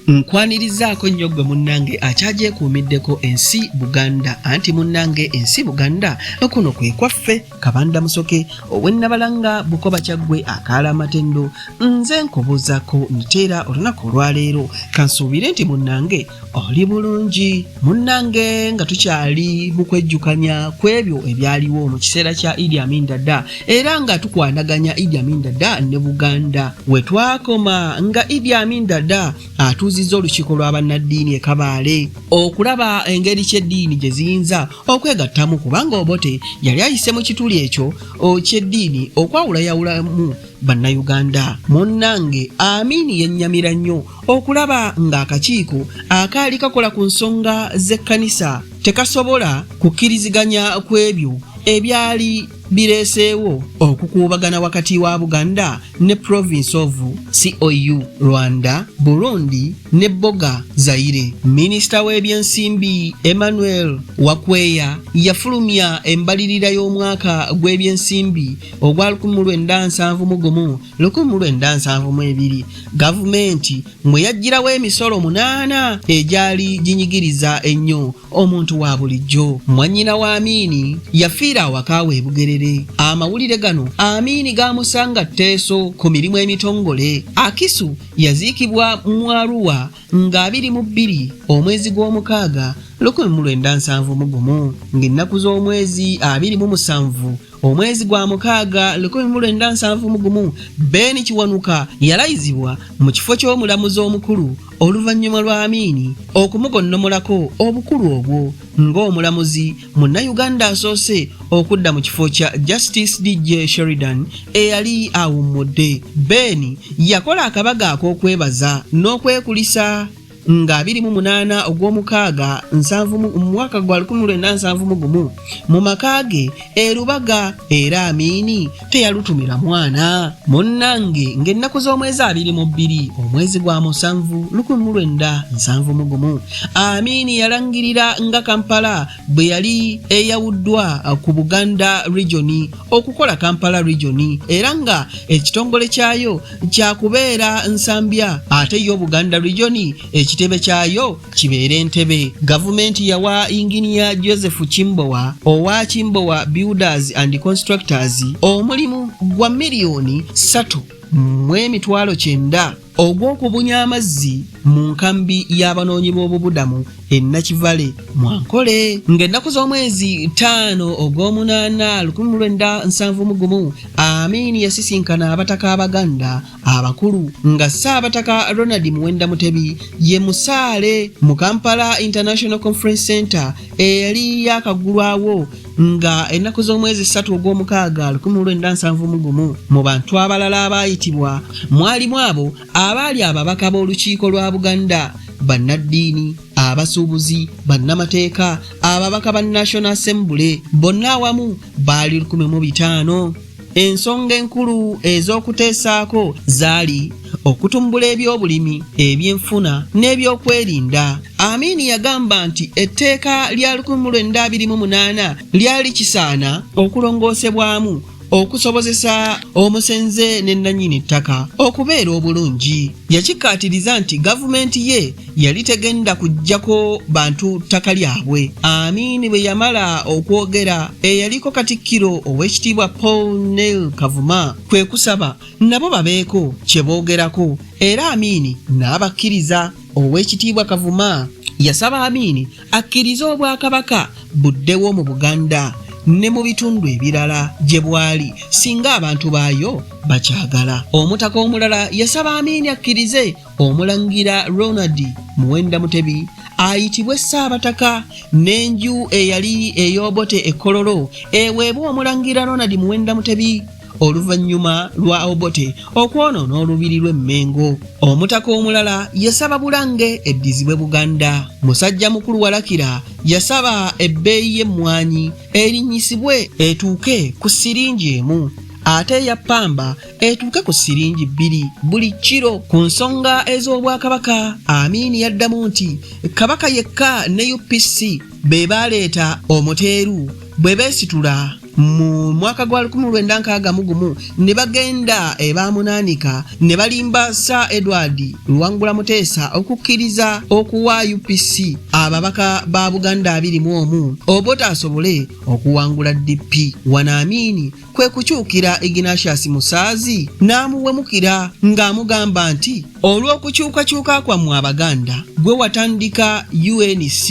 Nkwanirizaako nnyo gwe munnange akyagyekuumiddeko ensi Buganda anti munnange ensi Buganda okuno kwe kwaffe kabanda musoke owennabalanga bukoba kyaggwe akaala amatendo nze nkubuuzako nteera olunaku olwaleero kansuubire nti munnange oli bulungi munnange nga tukyali mu kwejjukanya ku ebyo ebyaliwo mu kiseera kya idi amin dada era nga tukwanaganya idi amin dada ne buganda we twakoma nga idi amin dada atuuzizza olukiiko lwa bannaddiini e kabaale okulaba engeri ky'eddiini gye ziyinza okwegattamu kubanga obote yali ayise mu kituli ekyo ky'eddiini okwawulayawulamu bannayuganda munnange amiini yennyamira nnyo okulaba ng'akakiiko akaali kakola ku nsonga z'ekkanisa tekasobola kukkiriziganya ku ebyo ebyali bireeseewo okukuubagana wakati wa buganda ne province of cou rwanda burundi ne boga zaire minisita w'ebyensimbi emmanuel wakweya yafulumya embalirira y'omwaka gw'ebyensimbi ogwa 1971 1,972 gavumenti mwe yaggyirawo emisolo munaana egyali ginyigiriza ennyo omuntu wa bulijjo mwannyina wa amiini yafiira awaka we bugerere amawulire gano amiini gaamusanga tteeso ku mirimu emitongole akisu yaziikibwa mu aruwa nga abiri mu bbiri omwezi gw'omukaaga 1971 ng'ennaku z'omwezi abiri mu musanvu Omwezi gwa mukaaga lukumi mu lwenda nsanvu mu gumu Ben Kiwanuka yalayizibwa mu kifo ky'omulamuzi omukulu oluvannyuma lwa Amiini okumugonnomolako obukulu obwo ng'omulamuzi munnayuganda asoose okudda mu kifo kya Justice DJ Sheridan eyali awummudde. Ben yakola akabaga ak'okwebaza n'okwekulisa. nga biri mu munaana ogw'omukaaga nsanvu mu mwaka gwa lukumi lwenda nsanvu mu gumu mu maka ge e Lubaga era Amiini teyalutumira mwana munnange ng'ennaku z'omwezi abiri mu bbiri omwezi gwa musanvu lukumi mu lwenda nsanvu mu gumu Amiini yalangirira nga Kampala bwe yali eyawuddwa uh, ku buganda regioni okukola kampala regioni era nga ekitongole kyayo kyakubeera nsambya ate yo buganda regioni ekitebe kyayo kibeera entebe gavumenti yawa inginiya joseph kimbowa owa kimbowa builders and constructors omulimu gwa miliyoni 3 mu emitwalo kyenda ogw'okubunya amazzi mu nkambi y'abanoonyi b'obubudamu e Nakivale mu Ankole ng'ennaku z'omwezi ttaano ogw'omunaana lukumi mu lwenda nsanvu mu gumu Amin yasisinkana abataka Abaganda abakulu nga Ssaabataka Ronald Muwenda Mutebi ye musaale mu Kampala International Conference Center eyali yaakaggulwawo nga ennaku z'omwezi ssatu ogw'omukaaga 1971 mu bantu abalala abaayitibwa mwalimu abo abaali ababaka b'olukiiko lwa buganda bannaddiini abasuubuzi bannamateeka ababaka ba national assembly bonna awamu baali 15 Ensonga enkulu ez'okuteesaako zaali okutumbula ebyobulimi ebyenfuna n'ebyokwerinda amiini yagamba nti etteeka lya 1928 lyali kisaana okulongoosebwamu okusobozesa omusenze ne nnanyini ttaka okubeera obulungi yakikkaatiriza nti gavumenti ye yali tegenda kujjako bantu ttaka lyabwe. Amin bwe yamala okwogera, eyaliko Katikkiro Oweekitiibwa Paul Neil Kavuma kwe kusaba nabo babeeko kye boogerako era Amin n'abakkiriza. Oweekitiibwa Kavuma yasaba Amin akkirize Obwakabaka buddewo mu Buganda ne mu bitundu ebirala gye bwali singa abantu baayo bakyagala. Omutaka omulala yasaba Amin akkirize Omulangira Ronald Muwenda Mutebi ayitibwe Ssaabataka n'enju eyali ey'Obote e Kololo eweebwa Omulangira Ronald Muwenda Mutebi oluvannyuma lwa Obote okwonoona olubiri lw'e Mmengo. Omutaka omulala yasaba Bulange eddizibwe Buganda. Musajja mukulu Walakira yasaba ebbeeyi y'emmwanyi erinnyisibwe etuuke ku siringi emu ate eya ppamba etuuke ku siringi bbiri buli kiro. Ku nsonga ez'Obwakabaka, Amin yaddamu nti Kabaka yekka ne UPC be baaleeta omuteeru bwe beesitula mu mwaka gwa 1961 ne bagenda ebamunaanika ne balimba Sir Edward Luwangula Muteesa okukkiriza okuwa UPC ababaka ba Buganda abiri mu omu obutaasobole okuwangula DP. Wanaamiini kwe kukyukira Ignatius Musaazi n'amuwemukira ng'amugamba nti olw'okukyukakyuka kwammwe Abaganda gwe watandika UNC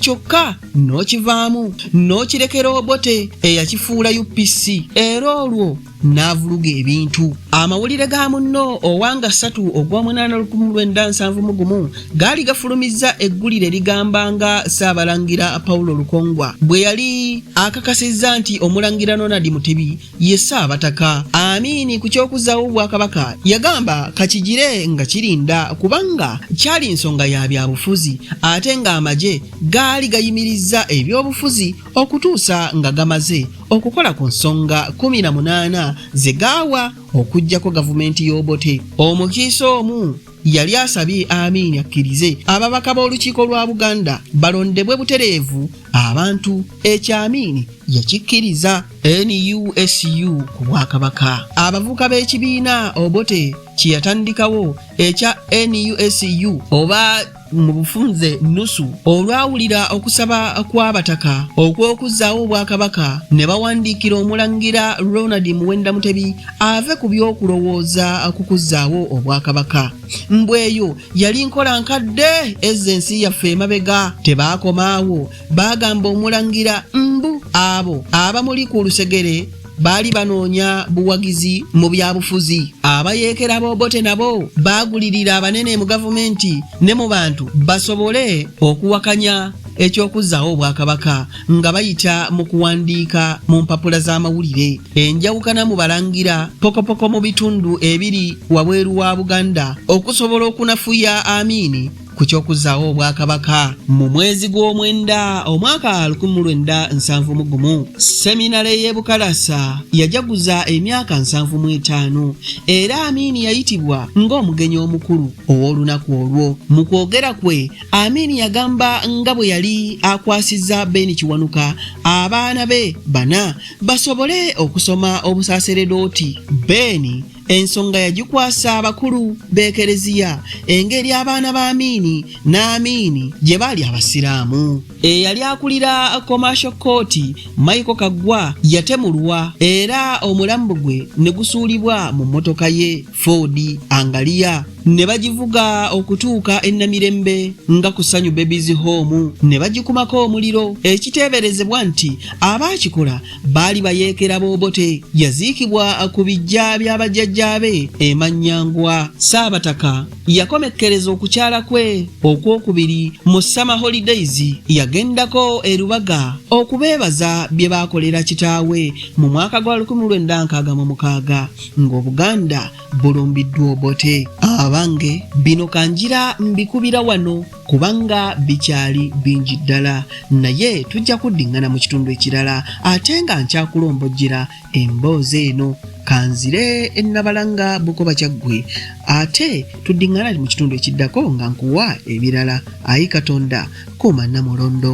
kyokka n'okivaamu n'okirekera Obote eyakifuula UPC era olwo n'avuluga ebintu amawulire ga munno owanga ssatu ogw'omunaana lukumi lwenda nsanvu mu gumu gaali gafulumizza eggulire ligamba nga ssaabalangira paulo lukongwa bwe yali akakasizza nti omulangira ronald mutebi ye ssaabataka amiini ku ky'okuzzaawo obwakabaka yagamba kakigire nga kirinda kubanga kyali nsonga ya byabufuzi ate ng'amagye gaali gayimirizza ebyobufuzi okutuusa nga gamaze okukola ku nsonga 18 ze gaawa okuggyako gavumenti y'obote omukiise omu yali asabye amiini akkirize ababaka b'olukiiko lwa buganda balondebwe butereevu abantu ekyo amiini yakikkiriza nusu ku bwakabaka abavuka b'ekibiina obote kye yatandikawo ekya nusu oba mu bufunze nusu olwawulira okusaba kw'abataka okw'okuzzaawo obwakabaka ne bawandiikira omulangira ronald muwenda mutebi ave ku by'okulowooza ku kuzzaawo obwakabaka mbweyo yali nkola nkadde ezza ensi yaffe emabega tebaakomaawo baagamba omulangira mbu abo abamuli ku lusegere baali banoonya buwagizi mu byabufuzi abayeekera b'obote nabo baagulirira abanene mu gavumenti ne mu bantu basobole okuwakanya eky'okuzzaawo obwakabaka nga bayita mu kuwandiika mu mpapula z'amawulire enjawukana mu balangira pokopoko mu bitundu ebiri wabweru wa buganda okusobola okunafuya amiini ku ky'okuzzaawo obwakabaka mu mwezi gw'omwenda omwaka 1971 seminale y'e bukalasa yajaguza emyaka 75 era amiini yayitibwa ng'omugenyi omukulu ow'olunaku olwo mu kwogera kwe amiini yagamba nga bwe yali akwasizza beeni kiwanuka abaana be bana basobole okusoma obusaseredooti beeni Ensonga yagikwasa abakulu b'ekereziya engeri abaana ba Amiini n'Amiini gye baali Abasiraamu. Eyali akulira Commercial Court, Michael Kaggwa yatemulwa era omulambo gwe ne gusuulibwa mu mmotoka ye Ford Angalia ne bagivuga okutuuka e Namirembe nga ku Sanyu Babies Home ne bagikumako omuliro ekiteeberezebwa nti abaakikola baali bayeekera boobote yaziikibwa ku bijja bya bajjajjaabe emanyangwa saabataka yakomekkereza okukyala kwe okwokubiri mu summer holidays yagendako erubaga okubeebaza bye baakolera kitaawe mu mwaka gwa 1966 ng'obuganda bulumbiddwa obote abange bino kanjira mbikubira wano kubanga bikyali bingi ddala naye tujja kuddiŋŋana mu kitundu ekirala ate nga nkyakulombojjera emboozi eno kanzire ennabalanga bukoba kyaggwe ate tuddiŋŋana mu kitundu ekiddako nga nkuwa ebirala ayi katonda kuuma namulondo